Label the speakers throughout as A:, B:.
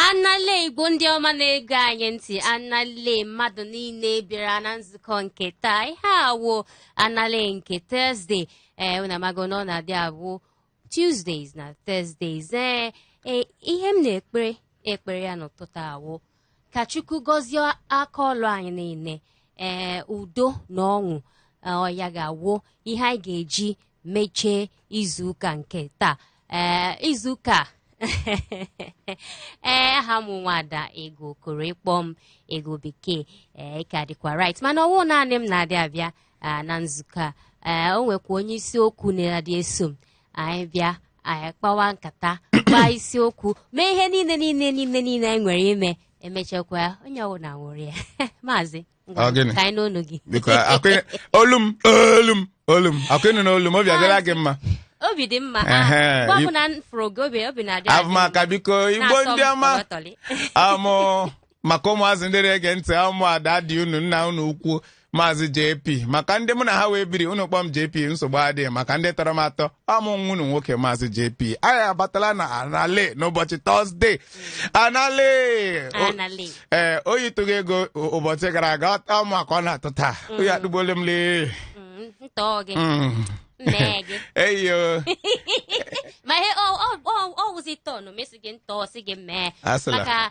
A: anale igbo ndị ọma na-ege anyị ntị anale mmadụ niile bịara na nzukọ nke taa ihe a wụ anale nke thursday ee eh, unu amago na ọ na-adị abụ tuesdays na thursdays ee eh, eh, ihe m na-ekpere ekpere ya n'ụtụtụ a wụ ka chukwu gọzie aka ọlụ anyị niile ee udo na ọṅụ ọ ya ga-awụ ihe anyị ga-eji mechie izuụka nke taa ee izuụka ee aha m nwada ego okoro ị kpọọ m ego bekee ị ka dịkwa right mana ọ wụ naanị m na-adị abịa na nzukọ a ee o nwekwa onye isiokwu na-adị eso m anyị bịa anyị kpawa nkata gbaa isiokwu mee ihe niile niile niile niile anyị nwere ime emechakwa ya onye ọbụla ṅụrịa maazị ngwa, Ọ gịnị? ka anyị nụ onu gị biko akụ- olu m olu m olu m akụ ị nụna olu m obi adịla gị mma obi dị mma Ehe, mgbe ọbụla m fụrụ gị obi obi na-adị adị m. abụmaka biko
B: igbo Na-asọ m ndị ọma tọlịtọlị. amụ maka ụmụazị ndị na-ege ntị ọ mụa daddy unu nna unu ukwu maazị JP maka ndị mụ na ha wụ ebiri unu kpọọ m JP nsogbu adịghị maka ndị tọrọ m atọ ọ mụ nwa unu nwoke maazị JP anyị abatala na anale n'ụbọchị thursday anale O- Anale. ee oyi tụrụ gị ego ụ- ụbọchị gara aga ọ- ọ mụa ka ọ na-atụ taa oyi atụgbuole m lee Mm, ntọọ gị Mm. nne gị eyo
A: ma ihe ọ- ọ- ọ- ọ wụzi turn m ịsị gị ntọọ si gị mee Asịla. maka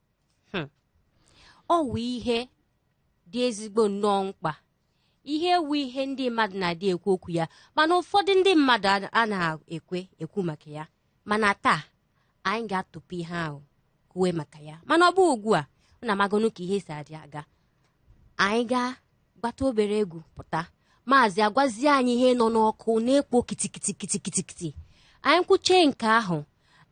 A: ọ wụ ihe dị ezigbo nnọọ mkpa ihe a wụ ihe ndị mmadụ na-adị ekwu okwu ya mana ụfọdụ ndị mmadụ a- a na-ekwe ekwu maka ya mana taa anyị ga-atụpụ ihe ahụ kwuwe maka ya mana ọ bụ ugbu a unu amagonu ka ihe si adị aga anyị gaa gbata obere egwu pụta maazị agwazie anyị ihe nọ n'ọkụ na-ekpo kitikitikitikitikiti anyị kwuchee nke ahụ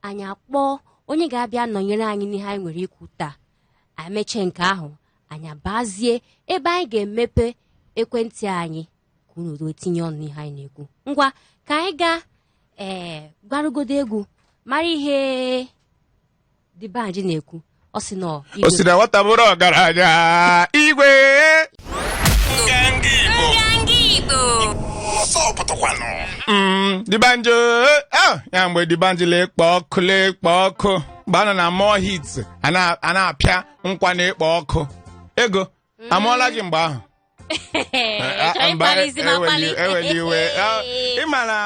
A: anyị akpọọ onye ga-abịa nọnyere anyị n'ihe anyị nwere ikwu taa anyị mechee nke ahụ anyị abazie ebe anyị ga-emepe ekwentị anyị ka unu soro tinye ọnụ n'ihe anyị na-ekwu ngwa ka anyị gaa ee gbarụgodo egwu mara ihe D'banj na-ekwu ọ sị na ọ o si na nwata bụrụ
B: ọgaranya igwe Mm, D'banj o eh, ah, ya mgbe D'banj la-ekpo ọkụ la-ekpo ọkụ mgbe ha nọ na Mo'Hits a na- a na-apịa nkwa na-ekpo ọkụ ego amụọla gị mgbe ahụ Chọrọ ịkpalizi m akpali. eweli iwe Ah, ị ma na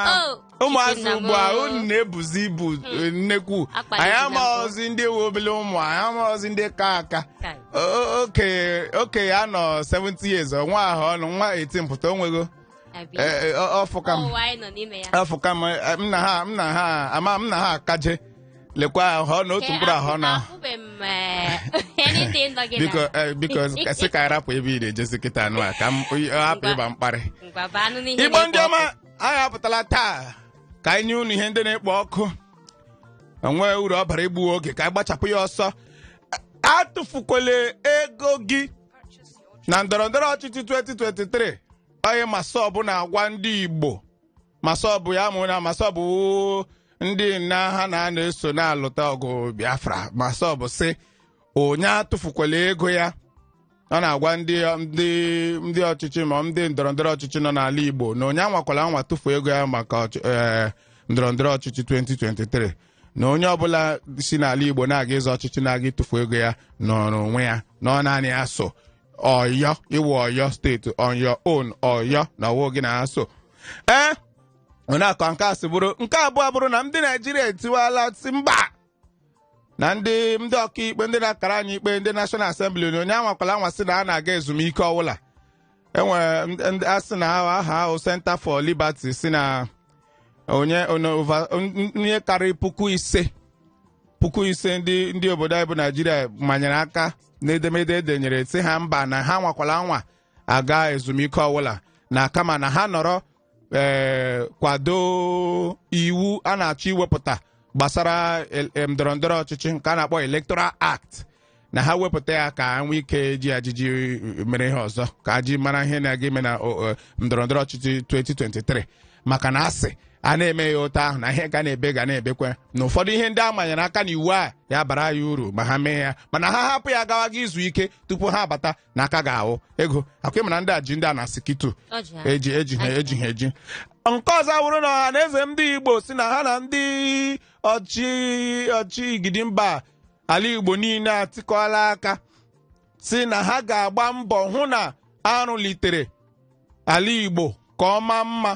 B: Oh, ụmụazị Chukwu nna m. ugbu a unu na-ebuzi ibu eh, nnekwu Akpali anyị gị na mbụ. amaghọzi ndị wụ obele ụmụ anyị amaghọzi ndị ka aka Kai. O- o- okenye okenye a nọ 70 years ọ nwa ahụ ọnụ nwa 18 pụta o nwego Abi. Eh, eh, ọ- ọ fụka m Ụwa anyị nọ n'ime ya. afọ kama m na ha m na ha ama m na ha akaje lekwa ahụ ọ na otu mkpụrụ ahụ ọ na Afụbeghị m eh, anything nọ gị biko na- eh, biko sị ka anyị rapụ ebe ị na-ejezi kịta anụ a ka m hapụ ịba mkparị Ngwa baa nụ n'ihe igbo na-ekwu ndị ọma anyị apụtala taa ka anyị nye unu ihe ndị na-ekpo ọkụ o nwee uru ọ bara igbu oge ka anyị gbachapụ ya ọsọ atụfukwele ego gị na ndọrọ ndọrọ ọchịchị 2023 onye MASSOB na-agwa ndị igbo MASSOB ị ma na MASSOB ndị nna ha na-anọ eso na-alụta ọgụ biafra MASSOB sị onye atụfukwala ego ya ọ na-agwa ndị ndị ndị ọchịchị ma ndị ndọrọ ndọrọ ọchịchị nọ n'ala igbo na onye anwakwala anwa tụfuo ego ya maka ọchị- eh, ndọrọ ndọrọ ọchịchị 2023 na onye ọbụla si n'ala igbo na-aga ịzọ ọchịchị na-aga ịtụfu ego ya nọrọ onwe ya na ọ naanị ya so ọyọ iwu ọyọ steeti on your own ọyọ na ọ wụ gị na-aso ee ọ na-akọ nke a sị bụrụ nke abụọ bụrụ na ndị naijiria etiwala sị mba na ndị ndị ọkaikpe ndị na-akara anyị ikpe ndị National Assembly na onye anwakwala anwa sị na ha na-aga ezumike ọwụla enwere ndị- ndị a sị na aha ha wụ Center for Liberty sị na onye onye over- n- n- ihe karịrị puku ise puku ise ndị ndị obodo anyị bụ naijiria manyere aka n'edemede e denyere sị ha mba na ha anwakwala anwa aga ezumike ọwụla na kama na ha nọrọ ee kwado iwu a na-achọ iwepụta gbasara el- em, ndọrọ ndọrọ ọchịchị nke a na-akpọ electoral act na ha wepụta ya ka ha nwee ike ji ajiji mere ihe ọzọ ka a ji mara ihe na-aga ime na o- o, ndọrọ ndọrọ ọchịchị 2023 maka na a sị a na-eme ya otu ahụ na ihe ga na-ebe ga na-ebekwa na ụfọdụ ihe ndị a manyere aka na iwu a ya bara ya uru ma ha mee ya mana ha hapụ ya gawa ga izu ike tupu ha abata na aka ga-ahụ ego akwa ịmara ndị a ji ndị a na sikitu Ọ ji ha. eji eji ha eji ha eji nke ọzọ wụrụ na Ọhanaeze ndị igbo sị na ha na ndị ọchị ọchị igidi mba ala igbo niile atikọọla aka sị na ha ga-agba mbọ hụ na a rụlitere ala Igbo ka ọ maa mma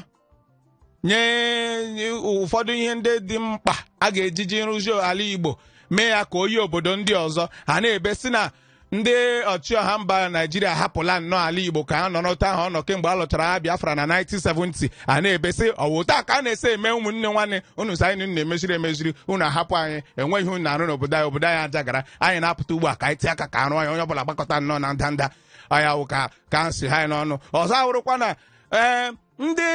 B: nye ụfọdụ ihe ndị dị mkpa a ga-ejiji rụzi ala Igbo mee ya ka o yi obodo ndị ọzọ ha na-ebe sị na ndị ọchịọha mba Naijiria hapụla nnọọ ala Igbo ka ha nọ n'otu ahụ ọ nọ kemgbe a lụchara agha Biafra na 1970 a na-ebe sị ọ wụ otu a ka a na-esi eme ụmụnne nwanne unu sị anyị na-emeziri emeziri unu ahapụ anyị enweghị ihe unu na-arụ n'obodo anyị obodo anyị ajagara anyị na-apụta ugbu a ka anyị tie aka ka arụ anyị onye ọbụla gbakọta nnọọ na ndanda ọ ya wụ ka ka nsị ha anyị n'ọnụ ọzọ awụrụkwa na ee ndị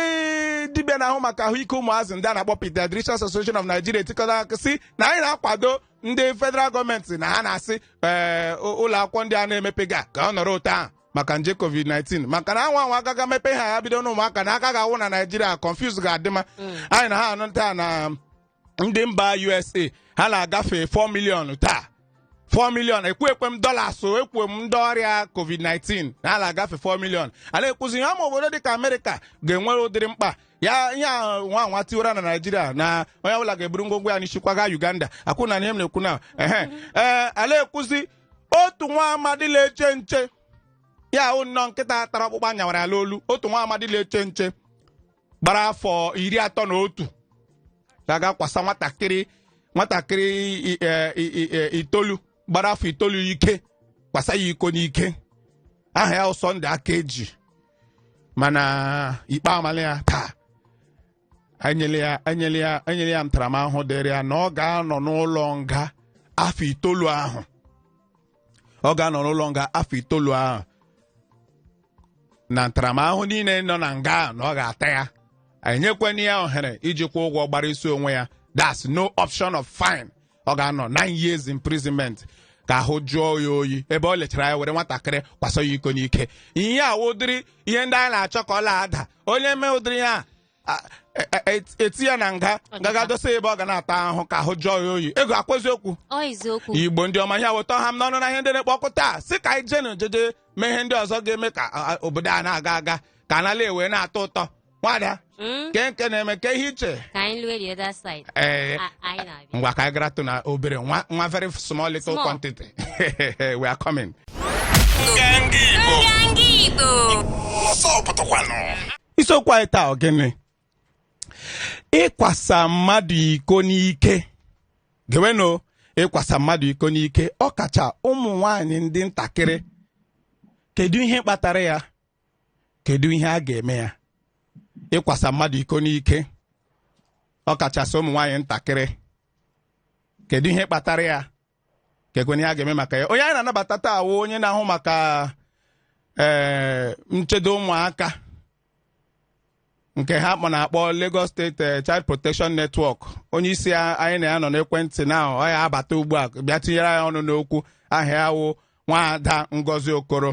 B: dibịa na-ahụ maka ahụike ụmụazị ndị a na-akpọ Pediatricians Association of Nigeria etikọta aka sị na anyị na-akwado ndị federal gọọmenti na ha na-asị ee ụlọ akwụkwọ ndị a na-emepega ka ọ nọrọ otu ahụ maka nje covid-19 maka na a nwaa anwa a gaga mepe ha ya bido n'ụmụaka na aka ga-awụ na naijiria confusion ga-adị ma anyị na ha anụ taa na ndị mba usa ha na-agafe 4 million taa 4 million ekwu ekwughị m dollars o ekwu m ndị ọrịa covid-19 na ha na-agafe 4 million a na-ekwuzi ihe ama obodo dịka amerịka ga-enwere ụdịrị mkpa ya ihe a nwaa anwa tiwara na naijiria na onye ọbụla ga-eburu ngwongwo ya n'isi kwaga uganda akwụ na ihe m na-ekwu na ehe ee a na-ekwuzi otu nwa amadi na-eche nche ya wụ nnọọ nkịta tara ọkpụkpụ a nyawara ya n'olu otu nwa amadi na-eche nche gbara afọ iri atọ na otu gaga kwasa nwatakịrị nwatakịrị i- e- i- i- e- itoolu gbara afọ itoolu ike kwasa ya iko n'ike aha ya wụ Sunday Akaeji mana ikpe amala ya taa enyela ya enyela ya enyela ya ntaramahụhụ dịrị ya na ọ ga-anọ n'ụlọ nga afọ itoolu ahụ ọ ga-anọ n'ụlọ nga afọ itoolu ahụ na ntaramahụhụ niile nọ na nga ahụ na ọ ga-ata ya enyekwana ya ohere iji kwụọ ụgwọ gbara isi onwe ya that's no option of fine ọ ga-anọ nine years imprisonment ka ahụ jụọ ya oyi ebe ọ lechara anya were nwatakịrị kwasa ya iko n'ike ihe a wụ ụdịrị ihe ndị anyị na-achọ ka ọ na-ada onye mee ụdịrị ya a- e- e- e- eti ya na nga gaga dosa ya ebe ọ ga na-ata ahụhụ ka ahụ jụọ ya oyi ego ọkwa eziokwu ọ eziokwu igbo ndị ọma ihe weta ha m n'ọnụ na ihe ndị na-ekpe ọkụ taa sị ka anyị jee na ojeje mee ihe ndị ọzọ ga-eme ka a- a- obodo a na-aga aga ka a na-ala wee na-atọ ụtọ nwaada Mm, ke nke na-eme ke ihe ị che ka anyị lue the other side ee A- anyị na-abịa ngwa ka anyị garatụ na obere nwa nwa very small little Small. quantity we are coming isiokwu anyị taa ọ gịnị ịkwasa mmadụ iko n'ike gewenụ ịkwasa mmadụ iko n'ike ọkacha ụmụ nwanyị ndị ntakịrị kedu ihe kpatara ya kedu ihe a ga-eme ya ịkwasa mmadụ iko n'ike ọkachasị ụmụ nwaanyị ntakịrị kedu ihe kpatara ya kekwanụ ihe a ga-eme maka ya onye anyị na-anabata taa awụ onye na-ahụ maka ee eh, nchedo ụmụaka nke ha kpọ na-akpọ Lagos State eh, Child Protection Network onye isi anyị na ya nọ n'ekwentị na ọ ya-abata ugbu a bịa tinyere ya ọnụ n'okwu aha ya wụ nwaada Ngozi Okoro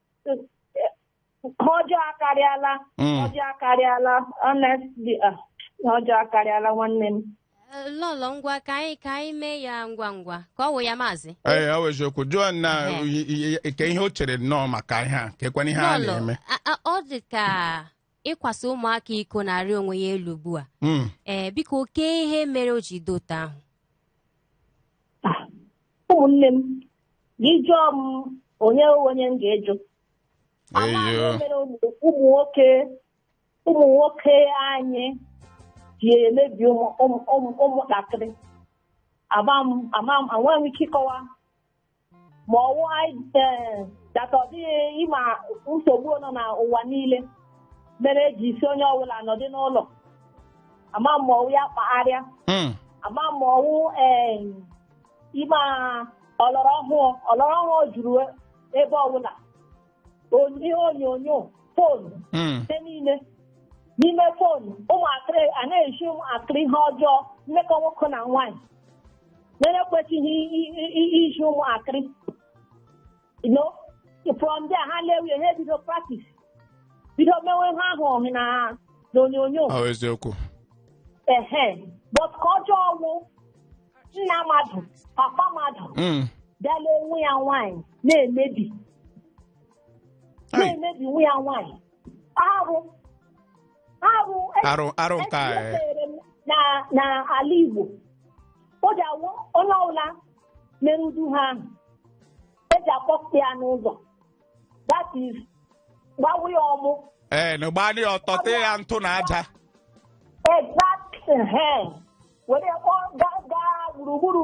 C: ihe ọjọọ akarịala Mm. ọjọọ akarịala honestly ah, ọjọọ akarịala nwanne m Eh, lọlọ ngwa
A: ka anyị ka anyị mee ya ngwa ngwa ka ọ wụ ya maazị ee ọ wụ
B: eziokwu jụọ na Ehe. i- i- i- ke ihe o chere nnọọ maka ihe a kekwana ihe a lọlọ na-eme a- a- ọ dị ka
A: ịkwasa ụmụaka iko na-arị onwe ya elu ugbu a Mm. ee biko oke ihe mere o ji dị otu
C: ahụ ụmụnne m gị jụọ m onye onye m ga-ajụ Amaghị m Eyo. ihe mere ụmụ ụmụ nwoke ụmụ nwoke anyị ji emebi ụmụ- ụmụ- ụmụ- ụmụntakịrị ama m ama m enweghị m ike ịkọwa ma ọwụ anyị ee, dịka ọ dị ị ma nsogbu nọ n'ụwa niile mere e ji sị onye ọbụla nọdị n'ụlọ ama m ma ọwụ ya kpatara ya Mm. ama m ma ọwụ ee, ịma ọlọrọ ọhụụ ọlọrọ ọhụụ juru ebe ọbụla on- ihe onyonyo fon Mm. ihe niile n'ime fon ụmụakịrị a na-ezi ụmụakịrị ihe ọjọọ mmekọ nwoke na nwaanyị na-ekwesịghị i- i- i- izi ụmụakịrị no from there ha lewe ihe bido practice bido mewe ihe ahụ ọ hụ na n'onyonyo Ọ bụ
B: eziokwu.
C: ehe but ka ọjọọ ọwụ nna mmadụ papa mmadụ Mm. bịala nwa ya nwaanyị na-emebi Ai. na-emebi nwa ya nwaanyị
B: arụ arụ arụ arụ nke a eh, echere m na
C: na ala Igbo o ji awụ onye ọbụla mere ụdị ihe ahụ eji akpọpụta ya n'ụzọ that is gbawa ya ọmụ ee na gba
B: ya ọtọ tee ya ntụ na aja exact ehen
C: were ya kpọọ gaa gaa gburugburu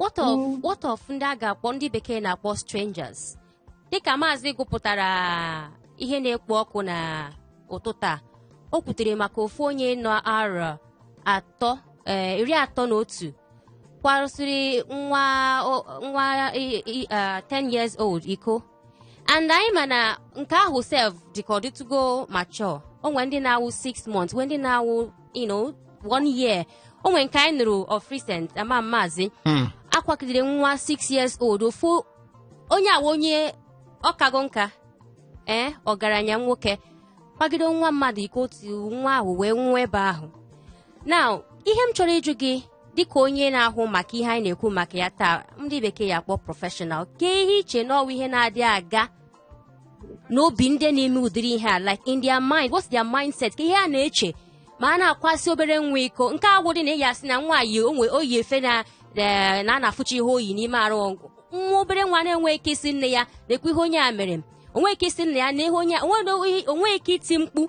A: what of mm. what of ndị a ga-akpọ ndị bekee na-akpọ strangers dịka maazị gụpụtara ihe na-ekpo ọkụ na ụtụtụ a o kwutere maka ofu onye nọ arọ atọ eh, iri atọ na otu kwarụsịrị nwa 10 eh, years old iko and anyị ma na nke ahụ sef dịka ọ dịtụgo mature o nwere ndị na-awụ 6 months nwe ndị na-awụ you know one year o nwere nke anyị nụrụ of recent ama maazị Hmm. a kwagidere nwa 6 years old ofu onye ọwụ onye ọkago nka ee ọgaranya nwoke kwagide nwa mmadụ iko otu nwa ahụ wee nwụọ ebe ahụ now ihe m chọrọ ịjụ gị dịka onye na-ahụ maka ihe anyị na-ekwu maka ya taa ndị bekee ya-akpọ professional kee ihe i che na ọ wụ ihe na-adị aga n'obi ndị na-eme ụdịrị ihe a like in their mind what's their mindset kee ihe ha na-eche ma ha na-akwasị obere nwa iko nke a wụdị na ị ga-asị na nwaanyị o nwe o yi efe na eh, na a na-afụcha ihe o yi n'ime arụ ọ wụ nwa obere nwa na-enwe ike ịsị nne ya nekwa ihe onye a mere m o nwe ike ịsị nna ya ne ihe onye a- o nwe o nwe ike iti mkpu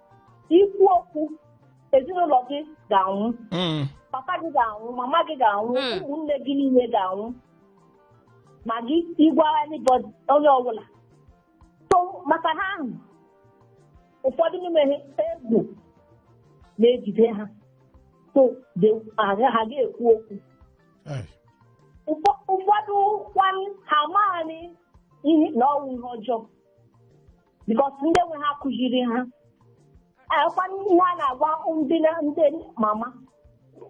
C: ikwu okwu ezinụlọ gị ga-anwụ Mm. papa gị ga-anwụ mama gị ga-anwụ Mm. ụmụnne gị niile ga-anwụ ma gị ịgwa anybody onye ọbụla so maka ihe ahụ ụfọdụ n'ime ha egwu na-ejide ha so they- ha ha ga-ekwu okwu Ai. Ụfọ- ụfọdụ kwanụ ha amaghị ihe na ọ wụ ihe ọjọọ because ndị nwe ha kụziri ha ọ kwa ihe a na-agwa ndị na- ndị mama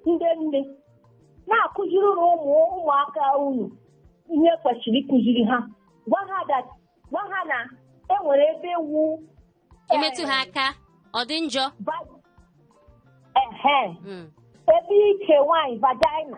C: ndị nne na-akụzirinụ ụmụ ụmụaka unu ihe kwesịrị ịkụziri ha gwa ha that gwa ha na e nwere ebe ọ wụ e
A: metụ ha aka ọ dị njọ va- ehe
C: Mm. ebe ike nwanyị vagina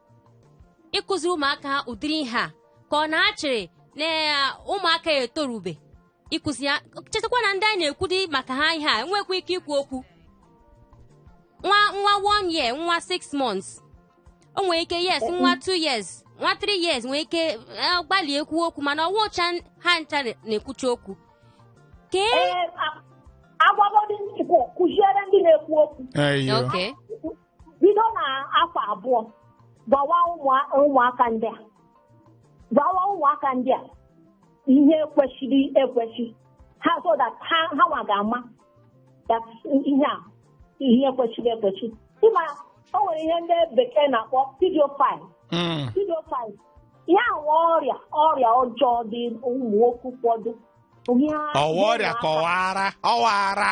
A: ịkụziri ụmụaka ha ụdịrị ihe a ka ọ na-achịrị na ụmụaka ya etorube ịkụzi ya chetakwa na ndị anyị na-ekwudi maka ha ihe a enwekwa ike ikwu okwu nwa nwa one year nwa six months o nwere ike yes nwa two years nwa three years nwere ike eh, gbalị ekwu okwu mana ọ wụcha ha ncha na-ekwucha okwu kee eh,
C: agwagodi ndị Igbo kụziere ndị na-ekwu okwu bido na afọ abụọ gwawa ụmụ- ụmụaka ndị a gwawa ụmụaka ndị a ihe kwesịrị ekwesị ha so that ha ha nwa ga-ama that ihe a ihe kwesịrị ekwesị ị ma o nwere ihe ndị bekee na-akpọ pedophile Mm. pedophile ihe a wụ ọrịa ọrịa ọjọọ dị ụmụ nwoke ụfọdụ Ihe ha- ọ
B: wụ ọrịa ihe ha- kọwara ọwara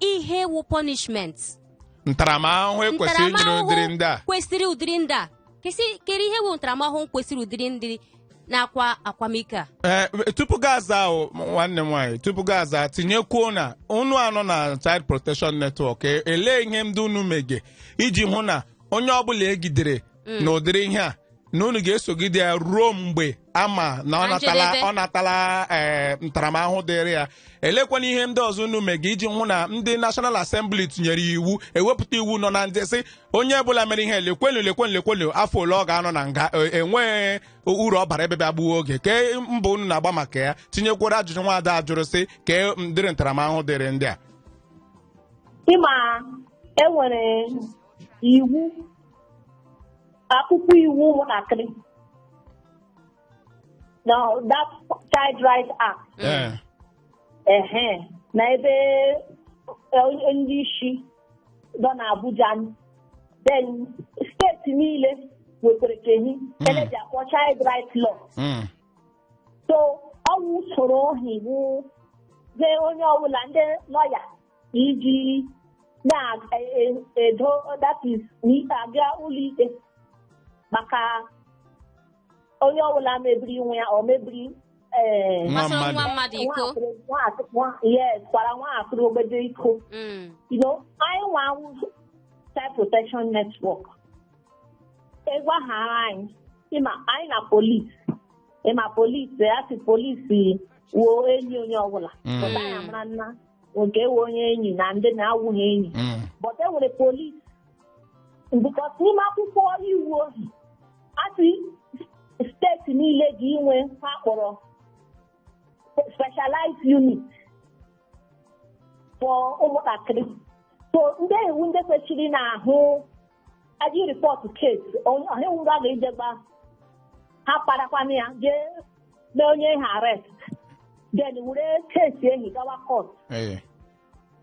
A: ihe wụ punishment
B: ntaramahụhụ e kwesịrị inyere Ntaramahụhụ ụdịrị ndị a kwesịrị ụdịrị ndị a
A: Kesị- kere ihe wụ ntaramahụhụ kwesịrị ụdịrị ndị na-akwa akwamiko a Ee, tupu gị aza
B: ahụ nwanne m nwaanyị tupu gị aza tinyekwuo na unu anọ na Child Protection Network e- elee ihe ndị unu mege iji hụ na onye ọbụla e gidere Mm. na ụdịrị ihe a na unu ga-esogide ya ruo mgbe a ma na ọ Na natala njedebe. ọ natala ee, ntaramahụhụ dịrị ya elekwanụ ihe ndị ọzọ unu mega iji hụ na ndị National Assembly tinyere ya iwu ewepụta iwu nọ na ndị sị onye ọbụla mere ihe lekwenu lekwenu lekwenu afọ ole ọ ga-anọ na nga e- enweghị uru ọ bara ebe bịa gbuo oge kee mbọ unu na-agba maka ya tinyekwara ajụjụ nwaada a jụrụ sị kee ụdịrị ntaramahụhụ dịrị ndị a
C: ị ma e nwere iwu akwụkwọ iwu ụmụntakịrị na that child right act Ee. ehe na ebe eh, ndị isi nọ n'Abuja then steeti niile nwekwara ke hi e ji akpọ child right law Mm. so ọ wụ usoro ohi wụ ze onye ọbụla ndị lọya iji na-edo that is n'ikpe aga ụlọikpe maka onye ọbụla mebiri nwa ya ọ mebiri ee nwa
A: Gbasara nwa mmadụ mmadụ iko
C: yes kwara nwatakịrị ogbede iko Mm. you know anyị nwa wụ child protection network a gwahara anyị ịma anyị na polisi ịma polisi a sị polisi wụ enyi onye ọbụla Mm. but anyị mara nna nke wụ onye enyi na ndị na-awụghị enyi Mm. but e nwere polis because n'ime akwụkwọ iwu ohi a sị steeti niile ga inwe ihe a kpọrọ specialized unit for ụmụntakịrị so ndị wụ ndị kwesịrị na-ahụ aji report case onye wuru a ga-eje gwa ha parakwana ya jee mee onye ahụ arrest then were case ehi gawa court ee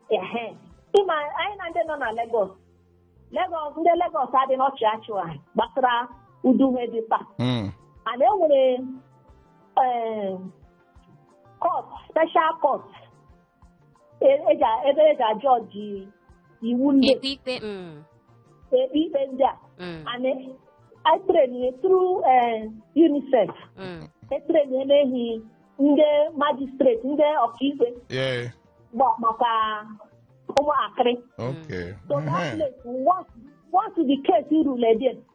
C: ehe ịma anyị na ndị nọ na Lagos Lagos ndị Lagos adị na-achị ọchị gbasara ụdị ihe dị mkpa Mm. and e nwere eh, court special court e- eji a- ebe eji a- judge wụ ndị ekpe ikpe
A: mm, ekpe
C: ikpe ndị a mm, and etrenie through UNICEF mm. etrenie n'ehi ndị magistrate ndị ọkaikpe Yeah. gba maka ụmụakịrị Okay. so that Mhm. place once once the case rule a ga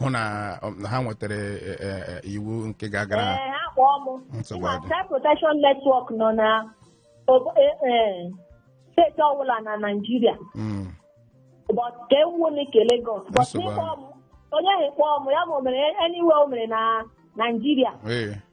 B: hụ na um, na ha nwetara eh, eh, eh, iwu nke ga-agara ha Ee, ha kpọọ m
C: Nsogbu Ịma adị. Child Protection Network nọ na obo- e- e, steeti ọbụla na Naịjirịa Mm, but nke anyị wụ nke Lagos but Nsogbu n'ịkpọ m onye ahụ kpọọ m ya ma o mere anywhere o mere na Naịjirịa ee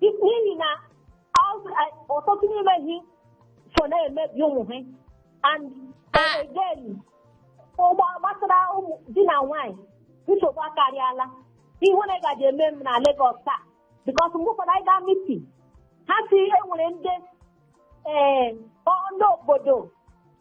C: n'ihi na ọtụtụ n'ime ha so na-emebi ụmụ ha and again ugbu a gbasara ụmụ di na nwaanyị nsogbu akarịala ihe na gaji eme m na Lagos taa because mgbe ụfọdụ anyị gaa meeting ha sị e nwere ndị ee ndị obodo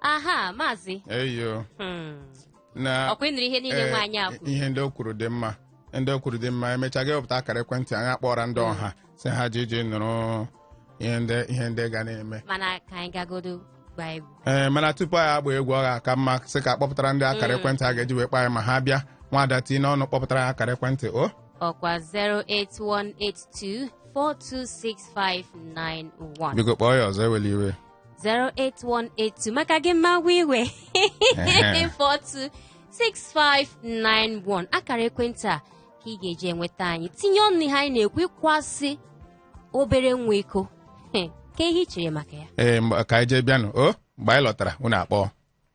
A: aha maazị eyo
B: Hmm.
A: na ọkwa ị nụrụ ihe niile ee, nwaanyị a kwuru ihe ndị o kwuru dị
B: mma ndị o kwuru dị mma emechaa gị wepụta akara ekwentị anyị akpọra ndị ọha sị ha ji ji nụrụ ihe ndị ihe ndị ga na-eme mana ka anyị gagodo
A: gbaa egwu ee mana tupu anyị
B: agba egwu ọ ga-aka mma sị ka a kpọpụtara ndị akara ekwentị a ga-eji wee kpọọ anyị ma ha bịa nwada tinye ọnụ kpọpụtara ya akara ekwentị o ọkwa 08182 426
A: 591 biko kpọọ ya ọzọ ewela
B: iwe
A: 08182 maka gị m ma-ewe iwe Ehe. 426591 akara ekwentị a ka ị ga-eji enweta anyị tinye ọnụ n'ihe anyị na-ekwu ịkwasị obere nwa iko He, kee ihe i chere maka ya ee mgbe- ka anyị jee bịanụ
B: o mgbe anyị lọtara unu akpọọ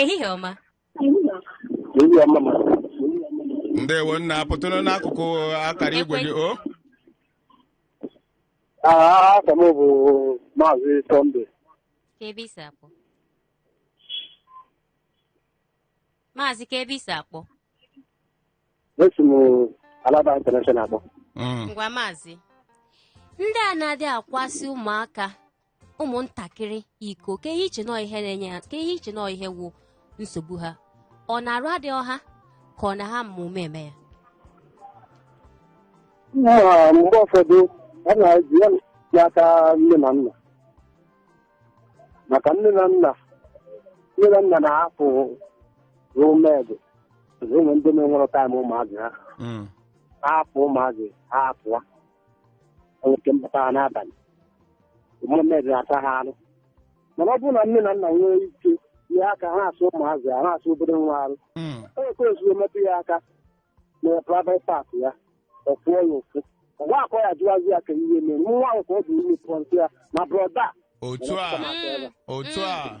A: Ehihie ọma. Ehihie ọma
B: ma. ndewo nna pụtụrụ n'akụkụ akara igwe gị o
D: Aha m bụ Maazị Sunday. Kee ebe i
A: si akpọ. Maazị kee ebe i si
D: akpọ. Esi m Alaba International akpọ. Mm. Ngwa maazị.
A: Ndị a na-adị akwasị ụmụaka ụmụntakịrị iko kee ihe i che na ọọ ihe na-enye ha kee ihe i che na ọọ ihe wụ nsogbu ha ọ na arụ adịrọ ha ka ọ na ha ma ụma eme ya
D: nna ha mgbe ụfọdụ a na-eji ya n'aka nne na nna maka nne na nna nne na nna na-ahapụrụ maid o nwee ndị na-enwerọ time ụmụazị ha Mm. ha hapụ ụmụazị ha apụọ o nwee ike mbata ha n'abalị ụmụ maid asaa ha arụ mana ọ bụrụ na nne na nna nwee ike jie aka ha asa ụmụazị ha ha asa obere nwa arụ Mm. o kwere ozugbo metụ ya aka na private part ya ọ fụọ ya ụfụ ọ ga-akpọ ya jụwazi ya kee ihe mere nwa ahụ ka ọ bụ ime point sị ya na brother otu a Mm. otu a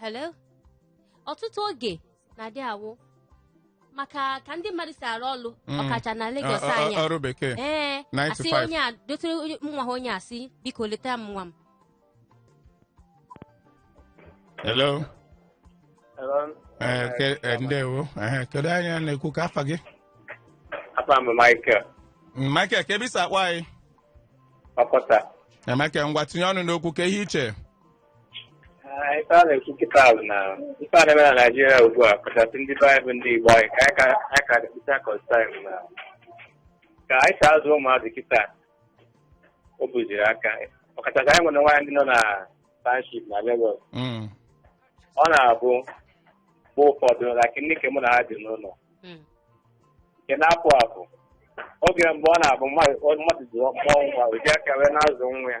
A: hello ọtụtụ oge na-adị awụ maka ka ndị mmadụ si arụ ọrụ Mm. ọkacha na Lagos Ọ- ọ- anyị a. ọrụ bekee ee
B: Nine to asị five. onye
A: a dotere onye- nwa ha onye asị biko leta m nwa m
B: hello Eh, ke- eh, ndewo Eh, kedu onye na-ekwu kee afa gị Afa m
E: Michael Mm, Michael
B: kee ebe i si akpọ anyị Okota
E: Eh, Michael
B: ngwa tinye ọnụ n'okwu kee ihe i che
E: Ah, ife a na-ekwu kịta bụ na ife a na-eme na Naịjirịa ugbu a kachasị ndị be anyị bụ ndị Igbo anyị ka anyị ka anyị ka dịkịta custom na ka anyị si azụ ụmụazị kịta o buziri aka ọkachasị anyị nwere nwaanyị ndị nọ na township na Lagos Mm. ọ na-abụ mgbe ụfọdụ na ndị nke mụ na ha dị n'ụlọ Mm. nke na-apụ apụ oge mgbe ọ na-abụ mmadụ mmadụ ji mụọ nwa o ji aka wee na-azụ nwa ya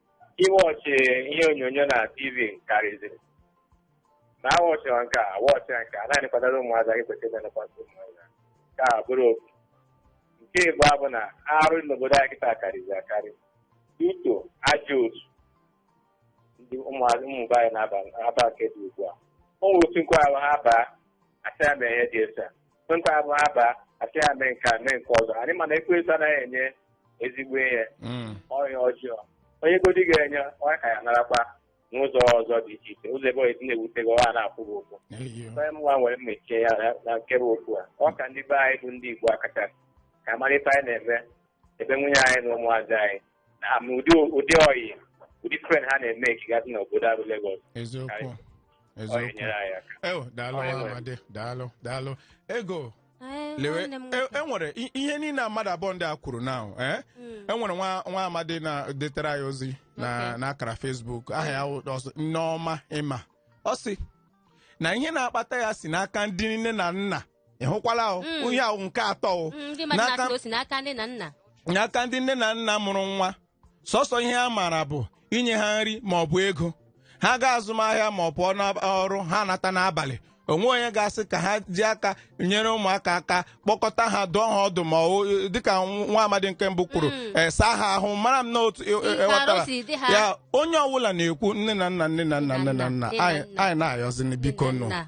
E: iwọchị ihe onyonyo na tv karịziri na awọchịwa nke a awọchịwa nke a naanị kwadoro ụmụazị anyị kwesịrị ịna-elekwasị ụmụazị nke a bụrụ ofu nke ịbụa bụ na arụ n'obodo anyị kịta karịziri akarị ọtụtụ ajọ otu ndị ụmụazị ụmụ be anyị na-aba nke dị ugbu a o nwere otu nke ọ bụ ha baa a sị ha mee ihe dị etu a nke ọ bụ ha baa a sị ha mee nke a mee nke ọzọ anyị mana ekwensu anaghị enye ezigbo ihe Mm. ọ ihe ọjọọ o nyegodi gị enye ọ ka ya-anarakwa n'ụzọ ọzọ dị iche iche ụzọ ebe esi na-ewute gị ọ ya na-afụ gị ụfụ Eyo. onye mụnwa nwere mmechi ya na- na nke bụ okwu a ọ ka ndị be anyị bụ ndị Igbo akacha ka a mara ife anyị na-eme ebe nwunye anyị na ụmụazị anyị ha ma ụdị ụdị ọyị ụdị friend ha na-emekigasị na obodo a bụ Lagos eziokwu ọyị Chukwu nyere anyị aka ewo daalụ Ọyị
B: nwa nwere. amadi daalụ daalụ ego Ee, lewe nwanne m e- nwoke. enwere i- ihe niile a mmadụ abụọ ndị a kwuru na eh? Mm. enwere nwa nwa amadi detere anyị ozi na Okay. n'akara Facebook aha ya wụ- ọ sị, Nneọma Ịma ọ sị na ihe na-akpata ya si n'aka ndị nne na nna ị hụkwala o Mm. ihe ahụ nke atọ o Mm, ndị mmadụ N'aka- na-asị na o si n'aka nne na nna n'aka ndị nne na nna mụrụ nwa sọsọ ihe ha maara bụ inye ha nri ma ọ bụ ego ha gaa azụmahịa ma ọ bụ ọrụ ha nata n'abalị o nweghị onye ga-asị ka ha ji aka nyere ụmụaka aka kpọkọta ha dụọ ha ọdụ ma ọ- dịka nwa amadi nke mbụ kwuru Mm. eh, saa ha ahụ mara m na otu e- e- Nke ewetara arụ si dị ha. ya onye ọbụla na-ekwu nne na nna nne na nna nne na nna Nne na nna. anyị anyị na-ayọzini biko Nne na nụ nna.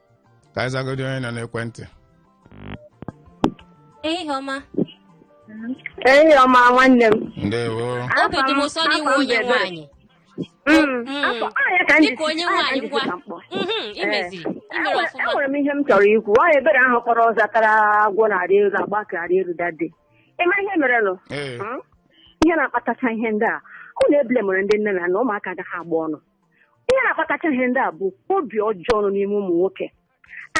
B: ka anyị zagodi onye nọ
A: n'ekwentị ehihie ọma
C: Ehihie ọma nwanne m. ndewo obi dị m ụsọ
B: n'ị wụ onye
A: nwaanyị Mm. Afọ ahịa ka m dịka ji- onye ahịa ka m nwaanyị ji ngwa ka m kpọọ. Mhm, i meziri i mere Enwere- ọfụma enwere m ihe m chọrọ
C: ikwu ọ ebere ahụ kpọrọ zatara agwọ na-arị elu agba aka arị elu dade ị ma ihe merenụ ee Hmm? ihe na-akpatacha ihe ndị a unu ebule mere ndị nne na nna ụmụaka agaghị agba ọnụ ihe na-akpatacha ihe ndị a bụ obi ọjọọ nọ n'ime ụmụ nwoke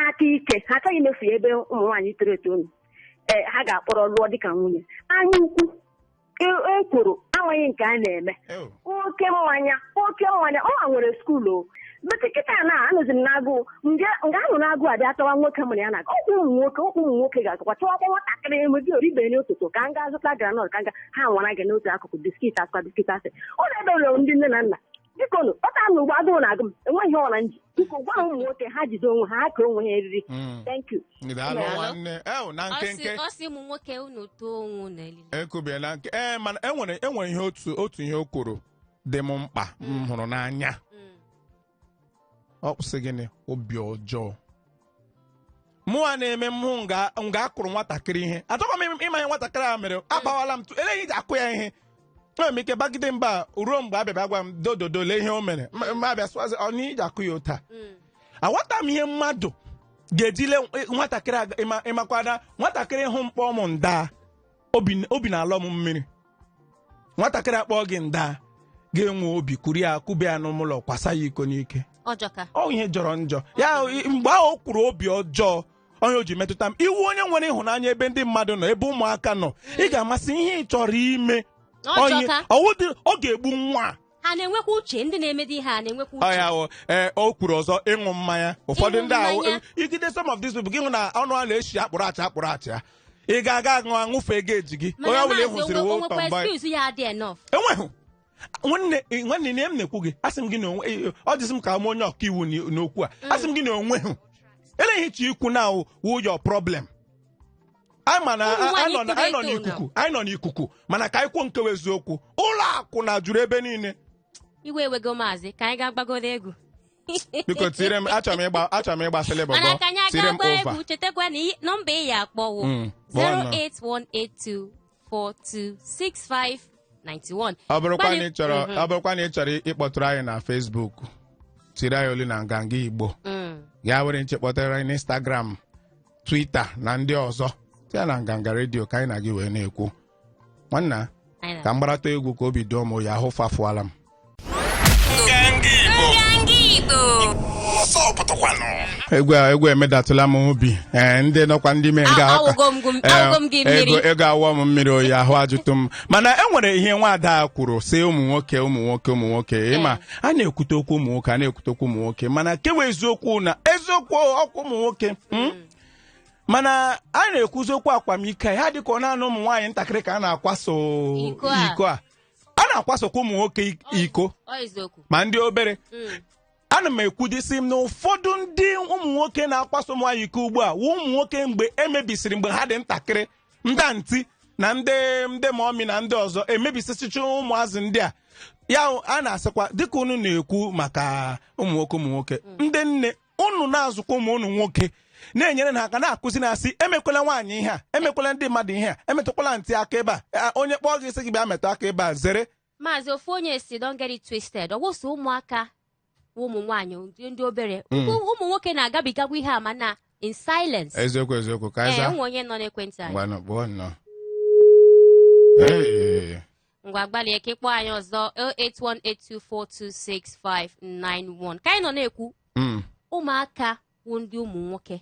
C: aka ike ha achọghị imefu ya ebe ụmụ nwaanyị toro eto nọ ee ha ga-akpọrọ lụọ dịka nwunye anya ukwu e- ekworo amaghị nke a na-eme Ew. oke mmanya oke mmanya o nwere school o bete kịta na anụzi m n'agụụ nga nga ahụ na-agụ abịa chọwa nwoke mụrụ ya na ọkwụ ụmụ nwoke ọkwụ ụmụ nwoke ga-azụkwa chọwakwa nwatakịrị enwedị o ribeghị n'ụtụtụ ka m gaa zụta granọt ka m ga ha nwara gị n'otu akụkụ biskit azụkwa biskit asị ọ na-ebe ụlọ ndị nne na nna biko nụ ọta m ugbo agụụ na-agụ m enweghị ihe ọra nji biko gwa ụmụ nwoke ha jide onwe ha ha kee onwe ha eriri Mm. thank you Daalụ Daalụ. nwanne. Ew, na nkenke. ọ sị ụmụ nwoke
B: unu tuo onwe unu elili ekwubie na nke ee mana enwere enwere ihe otu otu ihe o kwuru dị m mkpa m hụrụ n'anya o kwu sị gịnị obi ọjọọ mụwa na-eme m hụ nga nga a kụrụ nwatakịrị ihe achọkwa m ịma ihe nwatakịrị a mere agbawala m tụ ele ihe e ji akụ ya ihe enwere m ike bagide mba ruo mgbe abịa bịa gwa m dododo lee ihe o mere M- m abịa sụazị ọ n'ihi ji akụ ya ụta aghọta m ihe mmadụ ga-eji lee nwatakịrị aga- ịma- ịmakwana nwatakịrị hụ m kpọọ m nda obi obi na-alọ m mmiri nwatakịrị akpọọ gị nda ga-enwe obi kuru ya kuba ya n'ụlọ kwasa ya iko n'ike ọjọka ọ ihe jọrọ njọ ya i- mgbe ahụ o kwuru obi ọjọọ onye o ji metụta m ị wụ onye nwere ịhụnanya ebe ndị mmadụ nọ ebe ụmụaka nọ ị ga-ama sị ihe ị chọrọ ime Onye- ọ jọka ọ wụ dị- ọ ga-egbu nwa a.
A: ha na-enwekwa uche ndị na-emedi ihe a na-enwekwa uche ọya ahụ ee o
B: kwuru ọzọ ịṅụ mmanya ụfọdụ Ịṅụ ndị ahụ mmanya. igide some of these people gị hụ na ọnụ ha na-eshi akpuru achị akpuru achịa ị ga-aga aṅụ aṅụfe ga-ejigi onye mana ọbụla ị maazị hụsịrị onwe- wo onwekwa tọmba excuse ya adị enough enweghị nwanne nwanne ihe m na-ekwu gị asị m gị na onwe eh, ọ dịsị m ka m onye ọka iwu n'okwu a asị m gị na o nweghị ele ihe ị chọ ikwu na wụ your problem anyị ma na Ụmụ nwaanyị anyị nọ na- anyị nọ toro eto n'ikuku anyị nọ n'ikuku mana ka anyị kwuo nke bụ eziokwu ụlọ akwụna juru ebe niile iwe ewego
A: maazị ka anyị gaa gbagodo egwu
B: biko tiire m achọrọ m ịgba achọrọ m ịgba selebọ mana ka anyị tiire aga m gbaa ova egwu chetakwa na i- nọmba
A: ị ya-akpọ wụ Mm, kpọọ nọ. 08182 426591 ọ bụrụkwa na ị
B: chọrọ ọ bụrụkwa na ị chọrọ ịkpọtụrụ anyị na Facebook tiri anyị olu na nganga Igbo Mm. ya were nche kpọtara anyị n'Instagram Twitter na ndị ọzọ ya na nganga redio ka anyị na gị wee na-ekwu nwanna Anyị na- ka m gbaratụ egwu ka obi doo m ya ahụ fafuola m egwu egwu emedatụla m obi ee ndị nọkwa ndị mee nga A- awụgo m gụ- awụgo m gị mmiri. ego ego awụọ m mmiri oyi ahụ ajụtụ m mana e nwere ihe nwaada a kwuru sị ụmụ nwoke ụmụ nwoke ụmụ nwoke ịma a na-ekwute okwu ụmụ nwoke a na-ekwute okwu ụmụ nwoke mana nke wụ eziokwu na eziokwu ọkwa ụmụ nwoke mm? mana a na-ekwuzi okwu akwamiko ya adịka ọ naanị ụmụ nwaanyị ntakịrị ka a na-akwaso Iko a. iko a a na-akwasokwa ụmụ nwoke i- iko Ọ eziokwu. ma ndị obere Mm. ana m ekwudisi m na ụfọdụ ndị ụmụ nwoke na-akwaso ụmụ nwaanyị iko ugbu a wụ ụmụ nwoke mgbe e mebisiri mgbe ha dị ntakịrị ndị anti na ndị ndị mọmi na ndị ọzọ emebisichicha ụmụazị ndị a ya a na-asịkwa dịka unu na-ekwu maka ụmụ nwoke ụmụ nwoke ndị nne unu na-azụkwa ụmụ unu nwoke na-enyere ha aka na-akụzi na-asị emekwala nwaanyị ihe a emekwala ndị mmadụ ihe a emetụkwala ntị aka ebe a a, onye kpọọ gị sị gị bịa metụ aka ebe a zere maazị ofu onye
A: sị don't get it twisted ọ wụ sọ ụmụaka wụ ụmụ nwaanyị ndị- ndị obere Ụmụ ụmụ nwoke na-agabigakwa ihe a mana in silence eziokwu eziokwu ka anyị
B: zaa e nwe onye nọ n'ekwentị anyị
A: ngwanụ kpọọ nnọọ Ee, ngwa gbalịa ka ị kpọọ anyị ọzọ 08182426591 ka anyị nọ na-ekwu Mm. ụmụaka wụ ndị ụmụ nwoke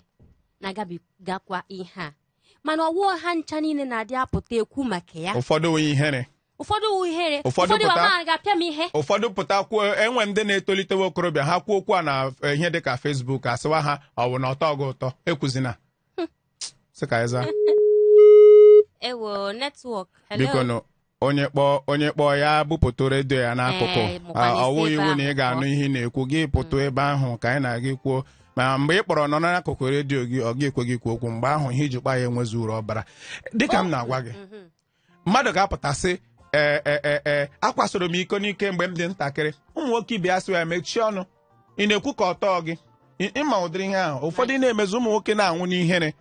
A: na-agabigakwa ihe a mana ọ wụ ha ncha niile na-adị apụta ekwu maka ya ụfọdụ wụ
B: ihere ụfọdụ wụ ihere Ụfọdụ ụfọdụ pụta- mama ga-apịa
A: m ihe ụfọdụ pụta
B: kwuo e nwe ndị na-etolitewe okorobịa ha kwuo okwu a na eh, ihe dịka Facebook a sịwa ha ọ wụ na ọ tọ gị ụtọ ekwuzina sị ka anyị zaa
A: ewo netwọk bikonụ
B: onye kpọọ onye kpọọ ya bupụtụ redio ya n'akụkụ Ee, mụkwa Ah, n'isi ọ wụghị iwu na ị ga-anụ ihe ị na-ekwu gị pụtụ ebe ahụ ka anyị na gị kwuo ma mgbe ị kpọrọ nọ n'akụkụ redio gị ọ ga-ekwe gị kwuo okwu mgbe ahụ ihe i ji kpọọ anyị enwezi uru ọ bara dịka m na-agwa gị mmadụ ga-apụta sị ee ee ee ee a kwasịrị m iko n'ike mgbe m dị ntakịrị ụmụ nwoke ibe ya sị ya mechie ọnụ ị na-ekwu ka ọ tọ gị Ị- ị ma ụdịrị ihe ahụ ụfọdụ na-emezi ụmụ nwoke na-anwụ n'ihere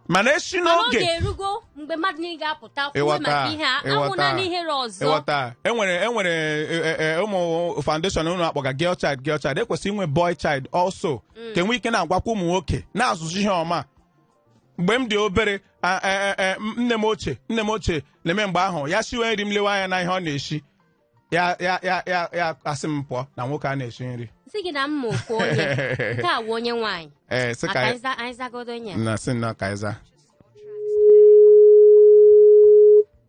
B: mana a sị mana oge na oge erugo
A: mgbe mmadụ niile ga-apụta kwuo Ịghọta, maka ihe a ịghọta. anwụna n'ihere ọzọ ịghọta
B: enwere enwere e, e, e, ụmụ foundation a na-akpọga girl child girl child ekwesịrị inwe boy child also ka e nwee ike na-agwakwa ụmụ nwoke na-azụzi ihe ọma mgbe m dị obere a- e- e- e, m- nne m ochie nne m ochie na-eme mgbe ahụ ya siwe nri m lewe anya na ihe ọ na-eshi ya ya ya ya ya asị m pụọ na nwoke ana-eshi nri sị gị na m ma
A: ofu onye nke a wụ onye nwaanyị ee sị maka ka anyị za- anyị zagodo onye a. na sị nnọọ ka anyị zaa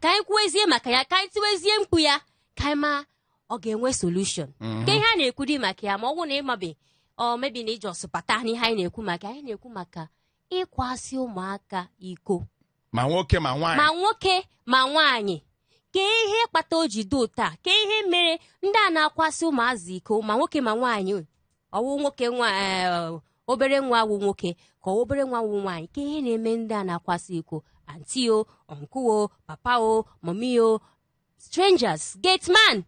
A: ka anyị kwuwezie maka ya ka anyị tiwezie mkpu ya ka anyị ma ọ ga-enwe solution kee ihe a na-ekwudị maka ya ma ọ bụrụ na ị mabe ọ mebi na i ji ọsọ bata n'ihe anyị na-ekwu maka anyị na-ekwu maka ịkwasị ụmụaka iko ma nwoke
B: ma nwaanyị ma nwoke
A: ma nwaanyị kee ihe kpata o ji dị otu a kee ihe mere ndị a na-akwasị ụmụazị iko ma nwoke ma nwaanyị ọ wụ nwoke nwa eh, obere nwa wụ nwoke ka ọ obere nwa wụ nwaanyị kee ihe na-eme ndị a na-akwasị iko auntie o uncle o papa o mommy o strangers gate man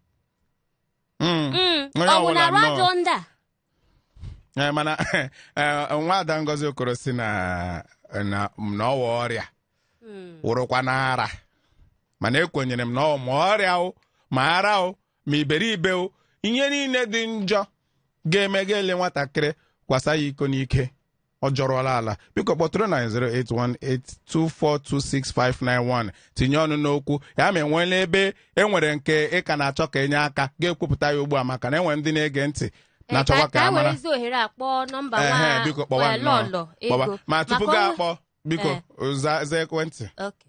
A: Mm. Mm, Onye ọ bụ ọbụla na-arụ nnọọ. ajọ ndị a Eh,
B: mana eh, nwa ada ngozi okoro sị na na na ọ wụ ọrịa Mm. wụrụkwa na ara mana ekwenyere m na ọ wụ ma ọrịa o ma ara o ma iberibe o ihe niile dị njọ ga-eme ga-ele nwatakịrị kwasa ya iko n'ike ọ jọrọla ala biko kpọtụrụ na 08182426591 tinye ọnụ n'okwu ya ma enweela ebe e nwere nke ị ka na-achọ ka e nye aka ga-ekwupụta ya ugbu a maka na enwere ndị na-ege ntị na-achọkwa ka a mara werezi ohere a kpọọ nọmba Ehe, nwa biko kpọwa eh, nnọọ. lọlọ Kpọwa. ego ma tupu Maka gị ọnụ- akpọ biko Eh. za za ekwentị Okay.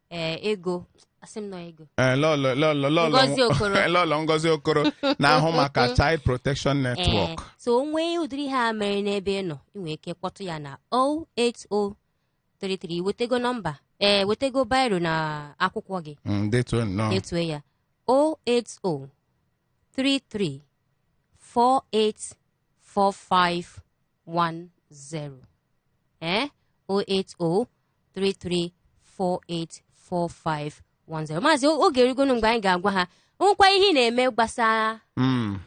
A: ee ego asị m na ọ ego Eh, lọlọ- lọlọ- lọlọ- Ngozi
B: Okoro. lọlọ Ngozi Okoro na-ahụ maka child protection Ee, network so o nwee ụdịrị
A: ihe a mere n'ebe ị nọ ị nwere ike kpọtụ ya na 08033 wetego nọmba ee wetego biro na akwụkwọ gị Mm, detuo nnọọ detue ya 08033 4845 080-3345-1310 ee 080-3348-4510 maazị o- oge erugonu mgbe anyị ga-agwa ha nwekwa ihe ị na-eme gbasara Mm,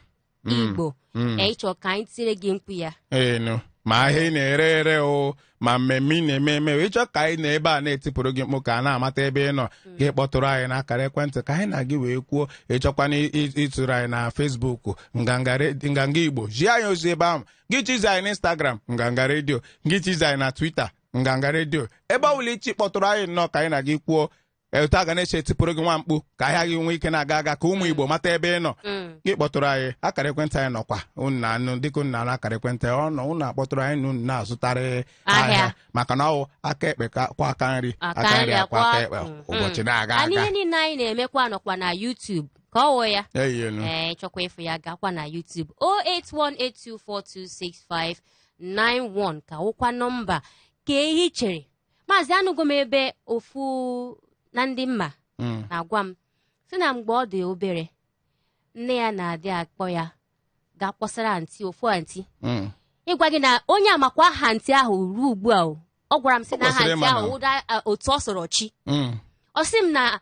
A: mm, igbo mm. ee ị chọọ ka anyị tire gị mkpu ya enu ma
B: ahịa ị na-ere ere o ma mmemme ị na-eme eme o, ị chọọ ka anyị nọ ebe a na-etipụrụ gị mkpu ka a na-amata ebe ị nọ gị kpọtụrụ anyị n'akara ekwentị ka anyị na gị wee kwuo ị chọkwana ị- ị- ịtụrụ anyị na Facebook nganga re- nganga igbo zie anyị ozi ebe ahụ gị chizi anyị na instagram nganga redio gị chizi anyị na twitter nganga redio ebe ọbụla i si kpọtụrụ anyị nnọọ ka anyị na gị kwuo etu a ga na-esi etipụrụ gị nwa mkpu ka ahịa gị nwee ike na-aga aga ka ụmụ igbo mata ebe ị nọ Mm. gị kpọtụrụ anyị akara ekwentị anyị nọkwa unu na-anụ dịka unu na-anụ akara ekwentị ọ nọ unu akpọtụrụ anyị na unu na-azụtara Ahịa. ahịa maka na ọ wụ aka ekpe ka- kwọọ aka nri Aka nri akwọọ aka ekpe Mm. ụbọchị na-aga a na-aga ihe niile anyị na-emekwa
A: nọkwa na YouTube ka ọ wụ ya eyelu ee ị chọkwa ịfụ ya gakwa na YouTube 08182426591 ka wụkwa nọmba ka ihe i chere maazị anụgo m ebe ofu na ndị m ma Mm. na-agwa m sị na mgbe ọ dị obere nne ya na-adị akpọ ya ga kpọsara anti ofu anti Mm. ịgwa gị na onye a makwa aha anti ahụ ruo ugbu a o. ọ gwara m sị na aha kwesịrị anti ịma ahụ na- wụ da a, Otuọsọrọchi Mm. ọ sị m na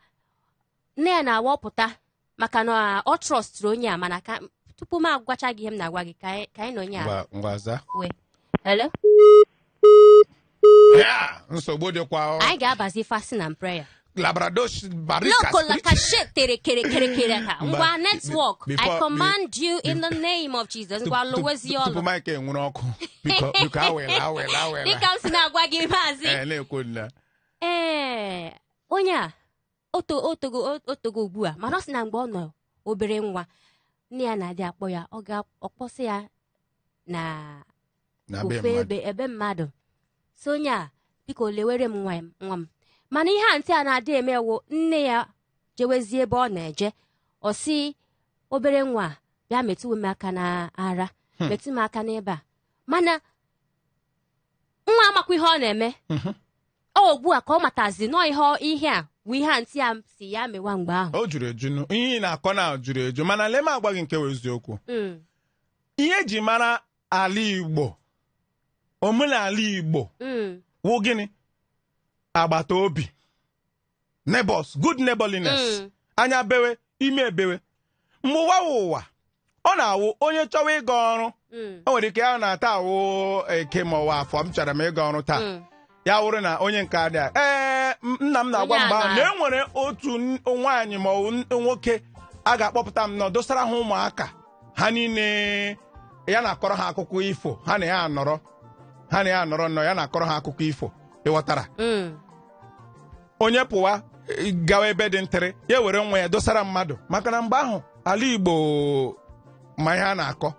A: nne ya na-awọpụta maka na ọ trọstụrụ onye a mana ka tupu m agwacha gị ihe m na-agwa gị ka anyị- ka anyị na onye a ngwa ngwa za wee hello
B: Ya, nsogbu dịkwa ọ. anyị ga-abazi fasting
A: and prayer labrados barika Loco la cachet tere kere kere kere ka Mba, ngwa be- network I before- command you in the name of Jesus ngwa lụwazi tupu ọlụ Mike ewere ọkụ
B: biko biko ewela ewela ewela dịka m si
A: na-agwa gị maazị Eh, na-ekwu nna ee onye a o to o togo o togo ugbu a mana ọ sị na mgbe ọ nọ obere nwa nne ya na-adị akpọ ya ọ ga-akpọsị ya na na be ofe mmadụ ebe ebe mmadụ sị onye a biko lewere m nwa m nwa m mana ihe antị a na-adị eme wụ nne ya jewezie ebe ọ na-eje ọ sị obere nwa a, bịa metụwe m aka n'ara Hmm. metụ m aka n'ebe a mana nwa amakwa ihe ọ na-eme Mhm. ọ ugbu a ka ọ matazi nnọọ ihe ọ- ihe a bụ ihe antị a sị ya mewa mgbe ahụ o juru eju nụ. ihe ị
B: na-akọ na juru eju mana lee m agwa gị nke wụ eziokwu Mm, ihe e ji mara ala igbo omenala igbo mm, wụ gịnị agbata obi neighbors good neighborliness Mm. anya bewe imi ebewe mgbe ụwa wụ ụwa ọ na-awụ onye chọwa ịga ọrụ Mm. o nwere ike ya na taa wụ eke ma ọ wụ afọ m chọrọ m ịga ọrụ taa Mm. ya wụrụ na onye nke adị a ee m- nna m na-agwa Onye mgbe ahụ a na na- e nwere otu n- nwaanyị ma ọ bụ n- nwoke a ga-akpọpụta nnọọ dosara ha ụmụaka ha niile ya na-akọrọ ha akụkọ ifo ha na ya anọrọ ha na ya anọrọ nnọọ ya na-akọrọ ha akụkọ ifo ị ghọtara Mm. onye pụwa eh, gawa ebe dị ntịrị ya were nwa ya dosara mmadụ maka na mgbe ahụ ala igbo ma ihe a na-akọ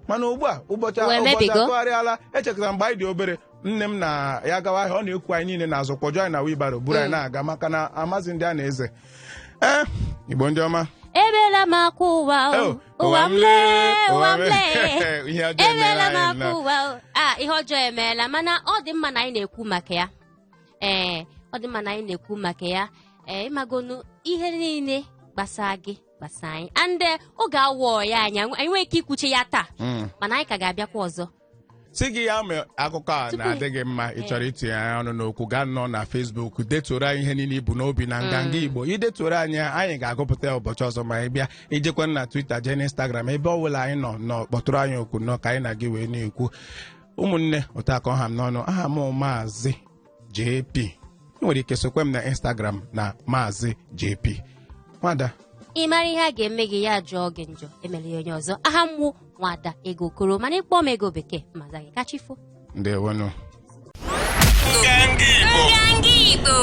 B: mana ugbu a ụbọchị Wee ụbọchị mebigo. atụgharịala echetara m mgbe anyị dị obere nne m na ya gawa ahịa ọ na-eku anyị niile n'azụ kpọjuo anyị na wheelbarrow buru anyị na-aga maka na amazi ndị a na-eze ee igbo ndị ọma ebela m
A: akwa ụwa o, Oh, ụwa m lee ụwa m lee ihe ọjọọ emeela ebela m anyị akwa nọ. ụwa o. a ihe ọjọọ emeela mana ọ dị mma na anyị na-ekwu maka ya ee ọ dị mma na anyị na-ekwu maka ya ee ị magonu ihe niile gbasara gị gbasara anyị and eh, oge awụ ọyị anyị anyị nwere ike ikwucha ya taa Mm. mana anyị ka ga-abịakwa ọzọ sị gị ya
B: mee akụkọ a Tupu- na-adị gị mma ị chọrọ itinye anyị ọnụ n'okwu gaa nnọọ na Facebook detuoro anyị ihe niile i bu n'obi na nganga Igbo i detuoro anyị ya, anyị ga-agụpụta ya ụbọchị ọzọ ma anyị bịa i jekwa na Twitter jee na Instagram ebe ọ bụla anyị nọ nọ kpọtụrụ anyị okwu nọ ka anyị na gị wee na-ekwu ụmụnne otu a ka ọ ha m n'ọnụ aha m maazị jp ị nwere ike sokwe m na instagram na maazị jp nwada ị mara ihe
A: a ga-eme gị ya jọọ gị njọ emela ya onye ọzọ aha m bụ nwada ego okoro mana ị kpọọ m ego bekee m aza gị kachifo ndewonụ
B: Nganga
F: Igbo.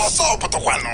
B: Ọsọ
F: pụtakwanụ.